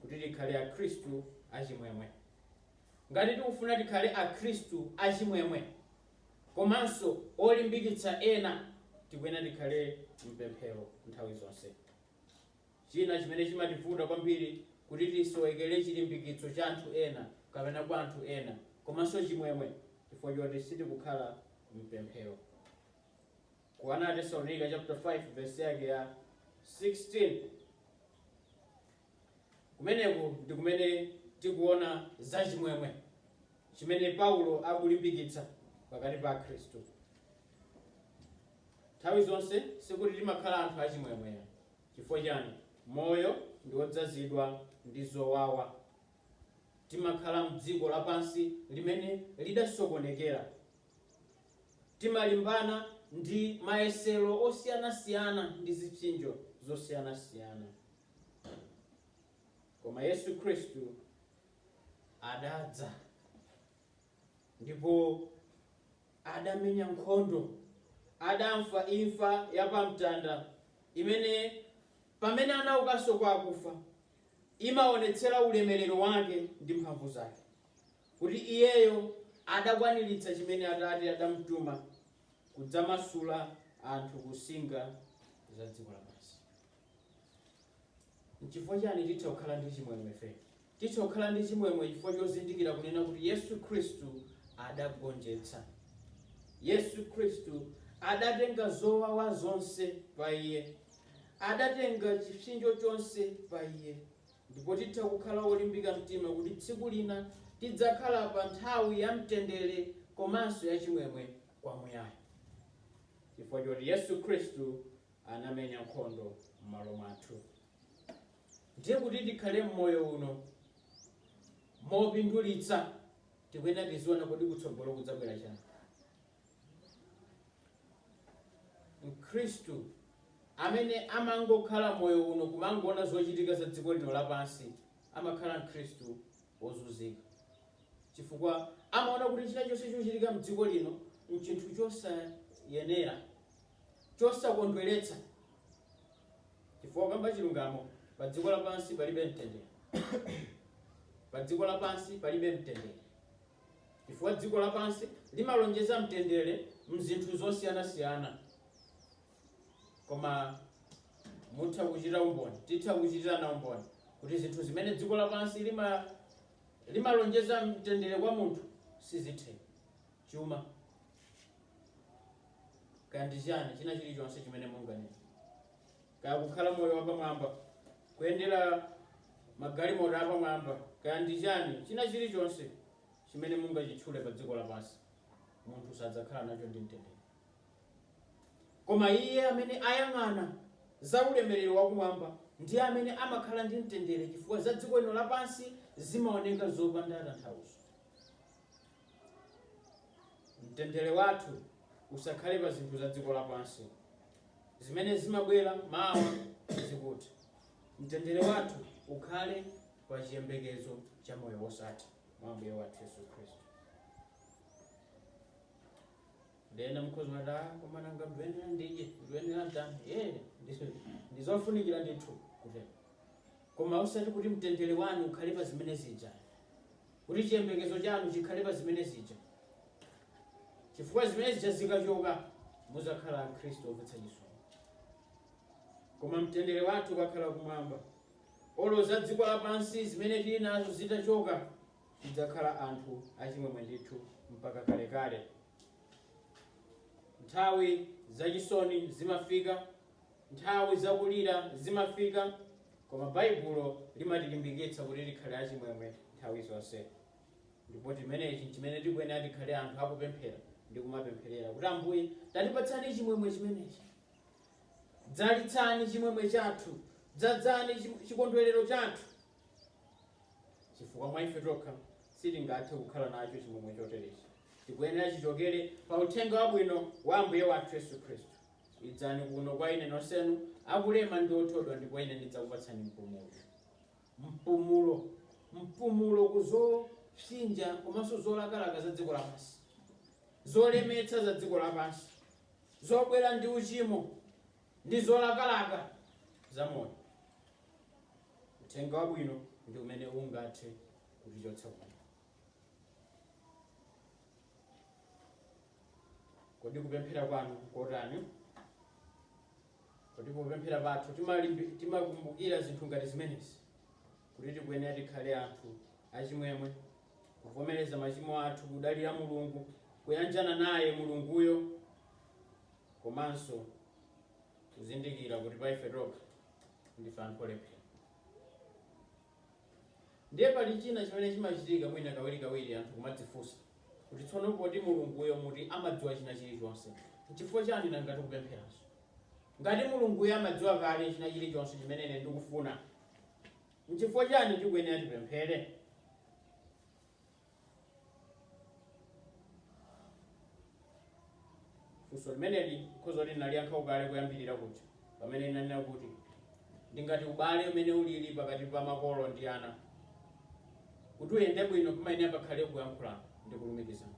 Speaker 1: Kuti tikhale Akhristu achimwemwe. Ngati tikufuna tikhale Akhristu achimwemwe komanso olimbikitsa ena, tikuyenera tikhale mpemphero nthawi zonse. China chimene chimativuta kwambiri kuti tisowekere chilimbikitso cha anthu ena kapena kwa anthu ena komanso chimwemwe chifukwa choti sitikukhala mpemphero. Ku 1 Atesalonika chapter 5 verse yake ya 16. Kumeneku ndi kumene tikuona za chimwemwe chimene Paulo akulimbikitsa pakati pa Akhristu. Nthawi zonse sikuti timakhala anthu achimwemwe. Chifukwa chani? Moyo ndi wodzazidwa ndi zowawa. Timakhala m'dziko lapansi limene lidasokonekera. Timalimbana ndi mayesero osiyanasiyana ndi zipsinjo zosiyanasiyana. Koma Yesu Khristu adadza ndipo adamenya nkhondo, adamfa imfa ya pamtanda imene pamene anaukanso kwa akufa imaonetsera ulemerero wake ndi mphamvu zake, kuti iyeyo adakwaniritsa chimene Atate adamtuma kudzamasula anthu kunsinga za dziko lapansi. Nchifukwa chani titha kukhala ndi chimwemwe ife? Titha kukhala ndi chimwemwe chifukwa chozindikira kunena kuti Yesu Khristu adagonjetsa. Yesu Khristu adatenga zowawa zonse pa Iye. Adatenga chipsinjo chonse pa Iye. Ndipo titha kukhala wolimbika mtima kuti tsiku lina tidzakhala pa nthawi ya mtendere komanso ya chimwemwe kwa muyaya. Chifukwa choti Yesu Khristu anamenya nkhondo m'malo mwathu. Ndiye kuti tikhale m'moyo uno mopindulitsa, tikuyenera tiziona kuti kutsogolo kudzabwera chani. Mkhristu amene amangokhala moyo uno kumangoona zochitika za dziko lino lapansi amakhala mkhristu wozunzika chifukwa amaona kuti chinachilichonse chochitika mdziko lino nchinthu chosayenera chosakondweretsa, chifukwa kamba chilungamo padziko lapansi palibe mtendere. Padziko lapansi palibe mtendere, chifukwa dziko lapansi limalonjeza mtendere m'zinthu zosiyanasiyana, koma mutha kuchita umboni, titha kuchitirana umboni kuti zinthu zimene dziko lapansi limalonjeza mtendere kwa munthu sizitheka. chuma, kaya ndi chani china chilichonse chimene munganene, kaya kukhala moyo wapamwamba, kuyendera magalimoto apamwamba, kaya ndi chani china chilichonse chimene mungachitchule pa dziko lapansi, munthu sadzakhala nacho ndi mtendere. Koma iye amene ayang'ana za ulemerero wakumwamba ndiye amene amakhala ndi mtendere, chifukwa za dziko lino lapansi zimaoneka zopanda tanthauzo. mtendere wathu usakhale pa zinthu za dziko lapansi zimene zimabwera mawa zikuti mtendere wathu ukhale pa chiyembekezo cha moyo wosatha mwa ambuye wathu yesu khristu ndiye ena mukhoza kumati "Ah, koma nanga ndiyenera ndidye ndiyenera nditani ee ndizofunikira ndithu kutero koma usati kuti mtendere wanu ukhale pa zimene zija kuti chiyembekezo chanu chikhale pa zimene zija, chifukwa zimene zija zikachoka muzakhala akhristu omvetsa chisoni. Koma mtendere wathu ukakhala kumwamba, olo za dziko lapansi zimene tili nazo zitachoka, tidzakhala anthu achimwemwe ndithu mpaka kalekale. Nthawi zachisoni zimafika Nthawi zakulira zimafika, koma Baibulo limatilimbikitsa kuti tikhale achimwemwe nthawi zonse. Ndipo chimenechi n'chimene tikuyenera tikhale anthu akupemphera ndi kumapempherera kuti, Ambuye, tatipatsani chimwemwe chimenechi. Dzalitsani chimwemwe chathu, dzadzani chim- chikondwerero chathu, chifukwa mwa ife tokha sitingathe kukhala nacho chimwemwe choterechi. Tikuyenera chichokere pa uthenga wabwino wa Ambuye wathu Yesu Khristu. Idzani kuno kwa Ine nonsenu akulema ndi othodwa, ndipo Ine ndidzakupatsani mpumulo. Mpumulo, mpumulo ku zopsinja komanso zolakalaka za dziko lapansi, zolemetsa za dziko lapansi, zobwera ndi uchimo ndi zolakalaka za moyo. Uthenga wabwino ndi umene ungathe kutichotsa kuno. Kodi kupemphera kwanu nkotani? Kodi popemphera pathu timalimbi- timakumbukira zinthu ngati zimenezi kuti tikuyenera tikhale anthu achimwemwe kuvomereza machimo athu kudalira mulungu kuyanjana naye mulunguyo komanso kuzindikira kuti pa ife tokha ndife anthu olephera Ndiye pali china chimene chimachitika mwina kawirikawiri anthu kumadzifunsa kuti tsono poti Mulunguyo muti amadziwa china chilichonse, n'chifukwa chani nanga tikupempheranso? Ngati Mulunguyo amadziwa kale china chilichonse chimene ine ndikufuna, n'chifukwa chani tikuyenera tipemphere? funso limeneli khoza kuti ndinaliyankha kale kuyambirira kuja pamene ndinanena kuti ndi ngati ubale umene ulili pakati pa makolo ndi ana kuti uyende bwino pamayenera pakhale kuyankhulana ndi kulumikizana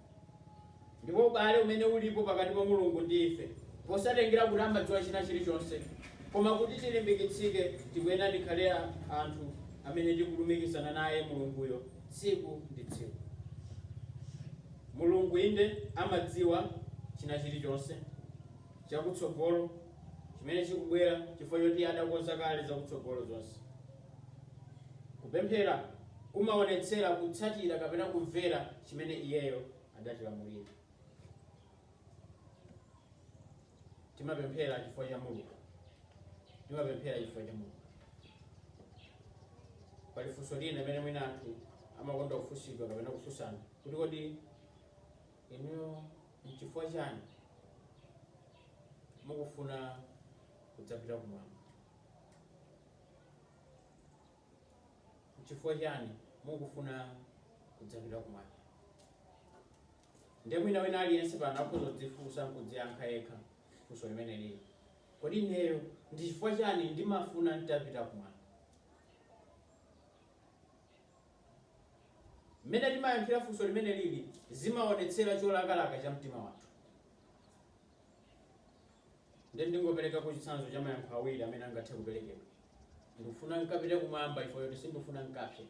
Speaker 1: Ndipo ubale umene ulipo pakati pa Mulungu ndi ife, posatengera kuti amadziwa china chilichonse, koma kuti tilimbikitsike, tikuyenera tikhale a, anthu amene tikulumikizana naye Mulunguyo tsiku ndi tsiku. Mulungu, inde, amadziwa china chilichonse chakutsogolo chimene chikubwera chifukwa choti Iye adakonza kale zakutsogolo zonse. Kupemphera kumaonetsera kutsatira kapena kumvera chimene Iyeyo adatilamulira. Timapemphera chifukwa cha Mulungu. Timapemphera chifukwa cha Mulungu. Pali funso lina limene mwina anthu amakonda kufunsidwa kapena kufunsana kuti kodi inuyo nchifukwa chani mukufuna kudzapita kumwamba? Nchifukwa chiyani mukufuna kudzapita kumwamba? Ndiye mwina wina aliyense pano akhoza kudzifunsa nkudziyankha yekha funso limene lili, kodi ineyo ndi chifukwa chani ndimafuna nditapita kumwamba? Mmene timayankhira funso limene lili zimaonetsera cholakalaka cha mtima wathu. Ndiye ndingoperekapo chitsanzo cha mayankho awiri amene angathe kuperekedwa. Ndifuna nkapite kumwamba chifukwa choti sindifuna nkapse.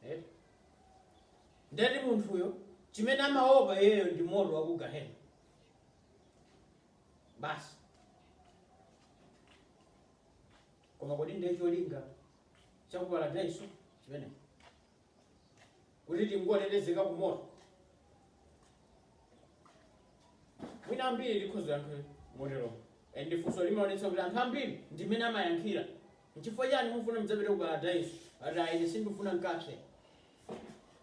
Speaker 1: Eh? Ndiyeti munthuyo chimene amaopa iyeyo ndi moto wa ku gahena. Basi. Koma kodi ndiye cholinga cha ku paradaiso chimenecho? kuti tingotetezeka ku moto mwina ambiri tikhoza kuyankha motero and kafukufuku amaonetsa kuti anthu ambiri ndimene amayankhira nchifukwa chani mufuna mudzapite ku paradaiso ati a ine sindifuna nkapse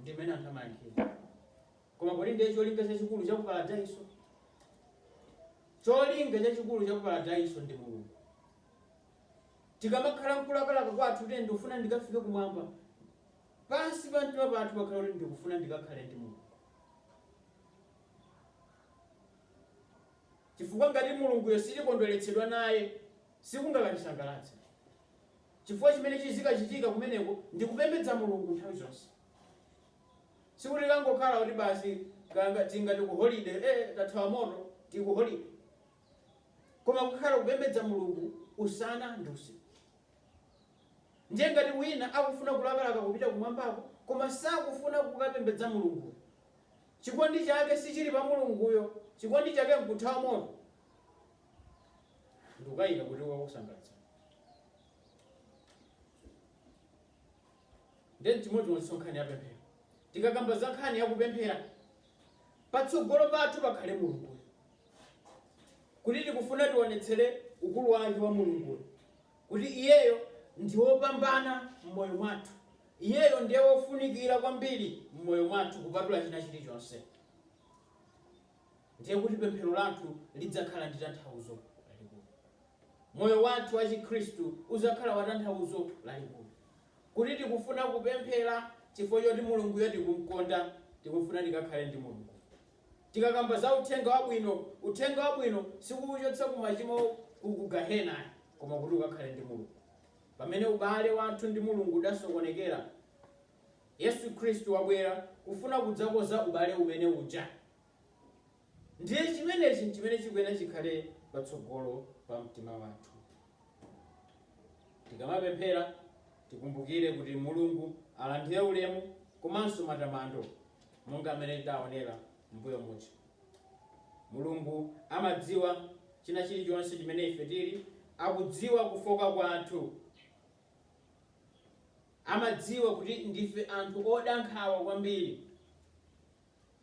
Speaker 1: ndimene anthu amayankhira koma kodi ndiye cholinga chachikulu cha ku paradaiso cholinga chachikulu cha ku paradaiso ndi mulungu Tikamakhala mkulakalaka kwathu kuti ndikufuna ndikafike kumwamba, pansi pa mtima pathu pakhale kuti ndikufuna ndikakhale ndi Mulungu. Chifukwa ngati Mulunguyo sitikondweretsedwa naye, sikungakatisangalatse. Chifukwa chimene chizikachitika kumeneko ndi kupembedza Mulungu nthawi zonse. Sikuti tikangokhala kuti basi kanga tingati ku holiday, eh tathawa moto, tili ku holiday. koma kukhala kupembedza Mulungu usana ndi usiku. Ndiye ngati wina akufuna kulakalaka kupita kumwambako koma sakufuna kukapembedza Mulunguyo, chikondi chake sichili pa Mulunguyo, chikondi chake nkuthawa moto, ndikaika kuti kukakusangalatsani. Ndiye n'chimodzimodzinso nkhani ya pemphero. Tikakamba za nkhani ya kupemphera, patsogolo pathu pakhale Mulunguyo, kuti tikufuna tionetsere ukulu wake wa Mulunguyo, kuti iyeyo ndi wopambana m'moyo mwathu, iyeyo ndiye wofunikira kwambiri m'moyo mwathu kupatula china chilichonse. ndiye kuti pemphero lathu lidzakhala ndi tanthauzo lalikulu. Moyo wathu wachikhristu udzakhala watanthauzo lalikulu. Kuti tikufuna kupemphera chifukwa choti Mulunguyo tikumkonda, tikufuna tikakhale ndi Mulungu. Tikakamba za uthenga wabwino, uthenga wabwino sikukuchotsa ku machimo ku ku gahena ayi, koma kuti ukakhale ndi Mulungu. Pamene ubale wathu ndi Mulungu udasokonekera, Yesu Khristu wabwera kufuna kudzakonza ubale umene uja. Ndiye chimenechi n'chimene chikuyenera chikhale patsogolo pa mtima wathu. Tikamapemphera tikumbukire kuti Mulungu alandire ulemu komanso matamando monga mmene tidaonera m'mbuyo muja. Mulungu amadziwa china chilichonse chimene ife tili, akudziwa kufooka kwathu. Amadziwa kuti ndife anthu oda nkhawa kwambiri,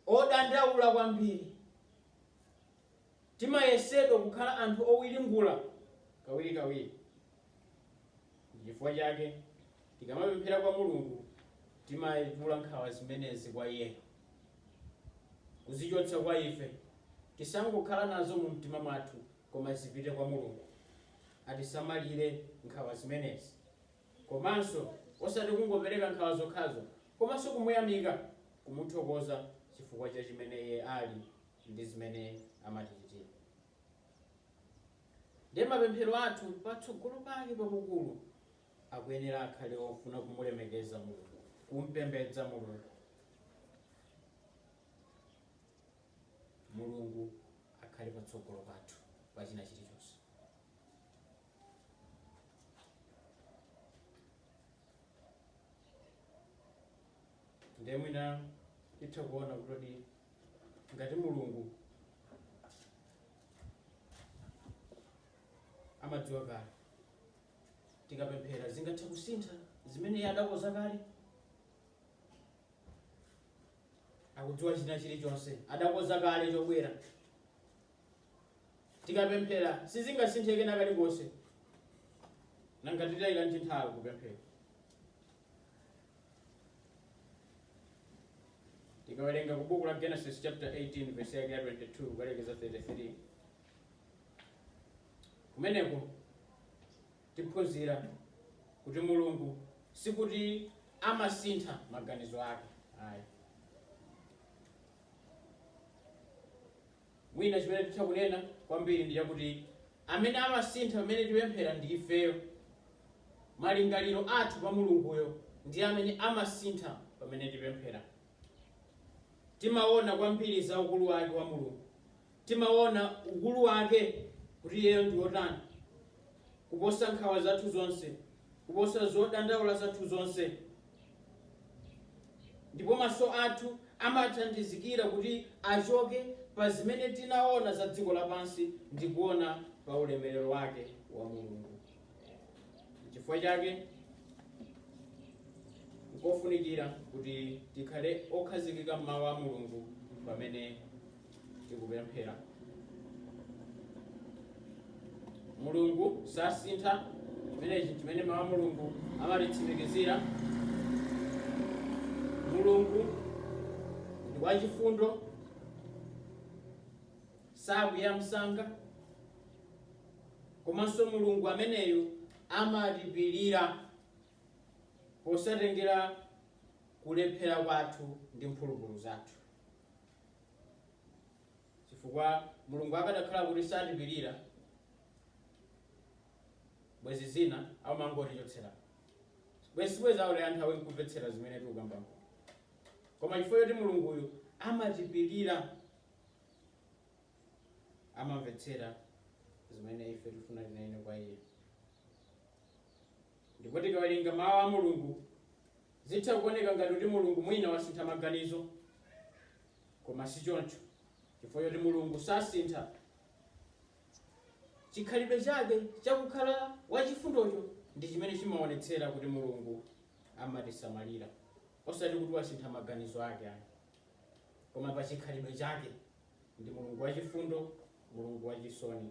Speaker 1: odandaula kwambiri. Timayesedwa kukhala anthu owiringula kawirikawiri. N'chifukwa chake tikamapemphera kwa Mulungu, timaitula nkhawa zimenezi kwa iye, kuzichotsa kwa ife. Tisangokhala nazo mumtima mwathu, koma zipite kwa Mulungu atisamalire nkhawa zimenezi. komanso osati kungopereka nkhawa zokhazo, komanso kumuyamika, kumuthokoza chifukwa cha chimene iye ali ndi zimene amatichitira. Ndiye mapemphero athu patsogolo pake pakukulu akuyenera akhale ofuna kumulemekeza Mulungu, kumpembedza Mulungu. Mulungu akhale patsogolo pathu pa china chilichonse. ndiye mwina titha kuona kuti ngati mulungu amadziwa kale tikapemphera zingathe kusintha zimene iye adakonza kale akudziwa china chilichonse adakonza kale chobwera Tikapemphera sizingasinthe kena kalikonse, nanga titayilanji nthawi kupemphera? Tikawerenga ku buku la Genesis chapter 18 verse yake ya 22 kukalekeza 33 kumeneko tiphunzira kuti mulungu sikuti amasintha maganizo ake ayi Mwina chimene titha kunena kwambiri ndi chakuti amene amasintha pamene tipemphera ndi ifeyo. Malingaliro athu pa Mulunguyo ndiye amene amasintha pamene tipemphera. Timaona kwambiri za ukulu wake wa Mulungu, timaona ukulu wake kuti iyeyo ndi wotani, kuposa nkhawa zathu zonse, kuposa zodandaula zathu zonse. Ndipo maso athu amathandizikira kuti achoke pa zimene tinaona za dziko lapansi ndi kuona pa ulemerero wake wa Mulungu. N'chifukwa chake nkofunikira kuti tikhale okhazikika m'mawu a Mulungu pamene tikupemphera mulungu sasintha chimene mawu a mulungu amatitsimikizira mulungu ndi wachifundo sakwiya msanga komanso mulungu ameneyo amatipirira posatengera kulephera kwathu ndi mphulupulu zathu chifukwa mulungu akadakhala kuti satipirira bwezi zina amangotichotsera bwezi sibwezi aonera nthawi nkumvetsera zimene tikukambako koma chifukwa choti mulunguyu amatipirira amamvetsera zimene ife tifuna tinene kwa iye ndipo tikawerenga mawu a mulungu Zitha kuoneka ngati kuti Mulungu mwina wasintha maganizo, koma sichoncho chifukwa choti Mulungu sasintha. Chikhalidwe chake cha kukhala wachifundocho ndi chimene chimaonetsera kuti Mulungu amatisamalira, osati kuti wasintha maganizo ake ayi, koma pa chikhalidwe chake ndi Mulungu wachifundo, Mulungu wachisoni.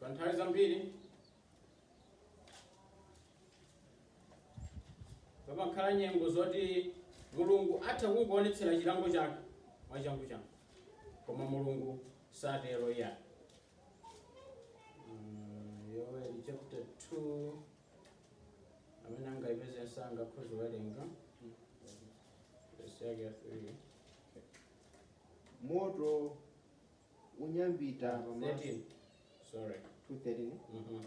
Speaker 1: pa nthawi zambiri pamakhala nyengo zoti mulungu atha kungoonetsera chilango chake mwachangu changu koma mulungu satero iyayi yoweli chapter 2 amene angayipeze msanga akhoza kuwerenga verse yake ya 3
Speaker 2: moto unyambita pamaso
Speaker 1: 13. Sorry. 2:13.
Speaker 2: Mhm.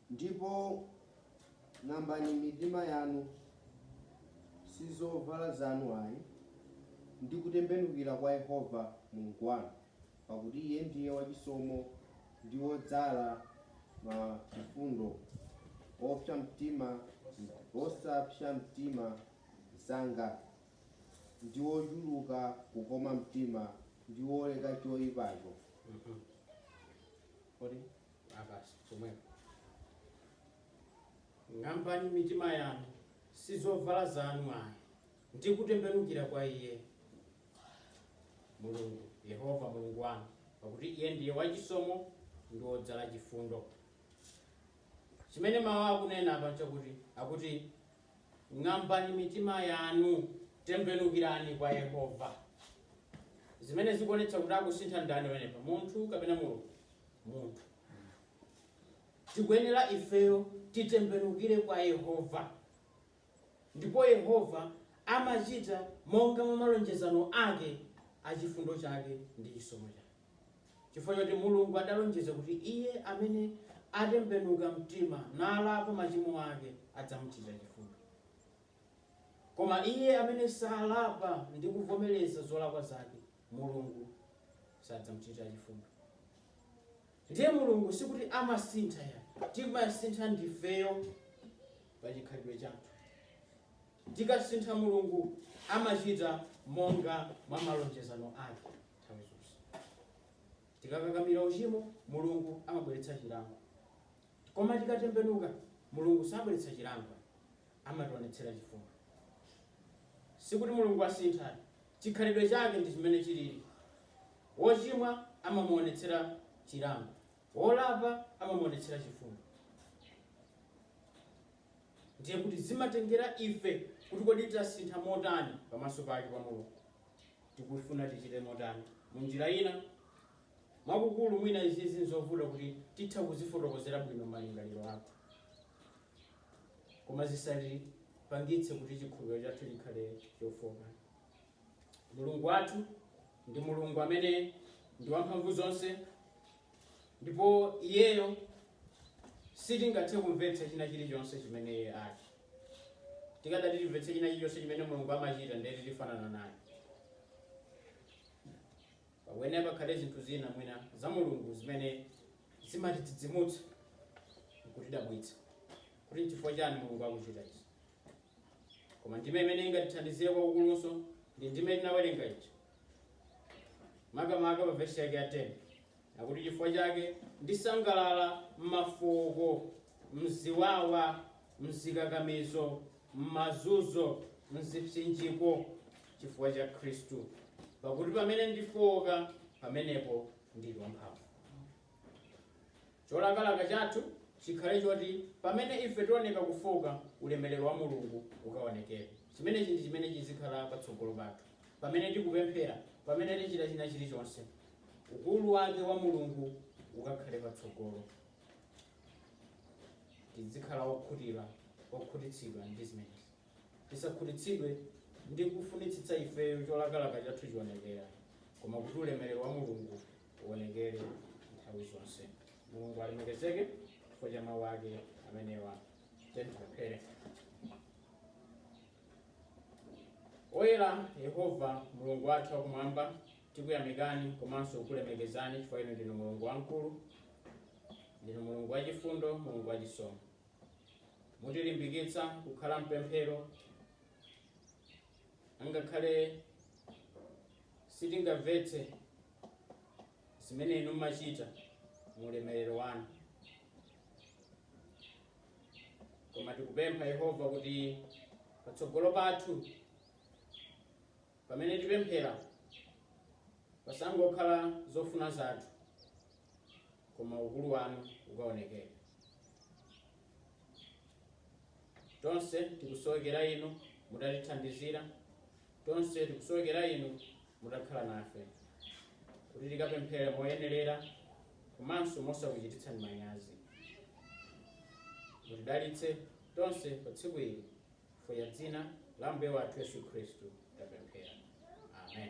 Speaker 2: ndipo ng'ambani mitima yanu si zovala zanu ayi ndi kutembenukira kwa yehova mulungu wanu pakuti iye ndiye wachisomo ndi wodzala machifundo wopsa mtima osapsa mtima msanga, ndi wochuluka kukoma mtima, ndi woleka
Speaker 1: choipacho. Ok basi chomwepo ng'ambani mitima yanu, si zovala zanu ayi, ndi kutembenukira kwa Iye Mulungu, Yehova Mulungu wanu, pakuti Iye ndiye wachisomo ndi wodzala chifundo. Chimene mawu akunena apa nchakuti akuti Ng'ambani mitima yanu, tembenukirani kwa Yehova. Zimene zikuonetsa kuti akusintha ndani pamenepa, munthu kapena Mulungu? Munthu. Tikuyenera ifeyo titembenukire kwa Yehova, ndipo Yehova amachita monga mwa malonjezano ake a chifundo chake ndi chisomo chake. Chifukwa choti Mulungu adalonjeza kuti iye amene atembenuka mtima nalapa machimo ake adzamuchitira chifundo. Koma iye amene salapa ndi kuvomereza zolakwa zake, Mulungu sadzamchitira chifundo. Ndiye Mulungu sikuti amasintha ya, timasintha ndifeyo pa chikhalidwe chathu. Tikasintha Mulungu amachita monga mwa malonjezano ake. nthawi zonse. Tikakakamira uchimo, Mulungu amabweretsa chilango. Koma tikatembenuka, Mulungu sabweretsa chilango, amationetsera chifundo. Sikuti Mulungu asintha, chikhalidwe chake ndi chimene chilili. Wochimwa amamuonetsera chilango, wolapa amamuonetsera chifundo. Ndiye kuti zimatengera ife kuti kodi tasintha motani pamaso pake pa Mulungu. tikufuna tichite motani? Mu njira ina, mwakukulu mwina izizi nzovuta kuti titha kuzifotokozera bwino malingaliro athu, koma zisatipangitse kuti chikhulupiriro chathu chikhale chofooka. Mulungu wathu ndi Mulungu amene ndi wamphamvu zonse, ndipo Iyeyo sitingathe kumvetsa china chilichonse chimene Iye ali. tikadati timvetse china chilichonse chimene mulungu amachita ndiye kuti tifanana naye pakuyenera pakhale zinthu zina mwina za mulungu zimene zimatidzidzimutsa nkutidabwitsa kuti nchifukwa chani mulungu akuchita izi koma ndime imene ingatithandizire kwakukulunso ndi ndime tinawerenga ija makamaka pa vesi yake ya 10 Akuti, Chifukwa chake ndisangalala m'mafooko, m'ziwawa, m'zikakamizo, m'mazunzo, m'zipsinjiko, chifukwa cha Khristu. Pakuti pamene ndifooka, pamenepo ndili wamphamvu. Cholakalaka chathu chikhale choti pamene ife tioneka kufooka, ulemerero wa Mulungu ukaonekere. Chimenechi ndi chimene chizikhala patsogolo pathu pamene tikupemphera, pamene tichita china chilichonse. ukulu wake wa Mulungu ukakhale patsogolo. Tidzikhala okhutira, okhutitsidwa ndi zimenezi. Tisakhutitsidwe ndi kufunitsitsa ifeyo cholakalaka chathu chionekera, koma kuti ulemerero wa Mulungu uonekere nthawi zonse. Mulungu alemekezeke chifukwa cha mawu ake amenewa. Tiyeni tipemphere. Oyera Yehova Mulungu wathu wakumwamba, tikuyamikani komanso kukulemekezani chifukwa inu ndinu Mulungu wamkulu, ndinu Mulungu wachifundo, Mulungu wachisomo. Mutilimbikitsa kukhala mpemphero angakhale sitingamvetse zimene inu mumachita mu ulemerero wanu. koma tikupempha yehova kuti patsogolo pathu pamene tipemphera pasangokhala zofuna zathu koma ukulu wanu ukaonekere tonse tikusowekera inu mutatithandizira Tonse tikusowekera inu mutakhala nafe kuti tikapemphere moyenerera komanso mosakuchititsani manyazi. Mutidalitse tonse pa tsiku ili chifukwa cha dzina la Mbuye wathu Yesu Khristu tapemphera. Amen.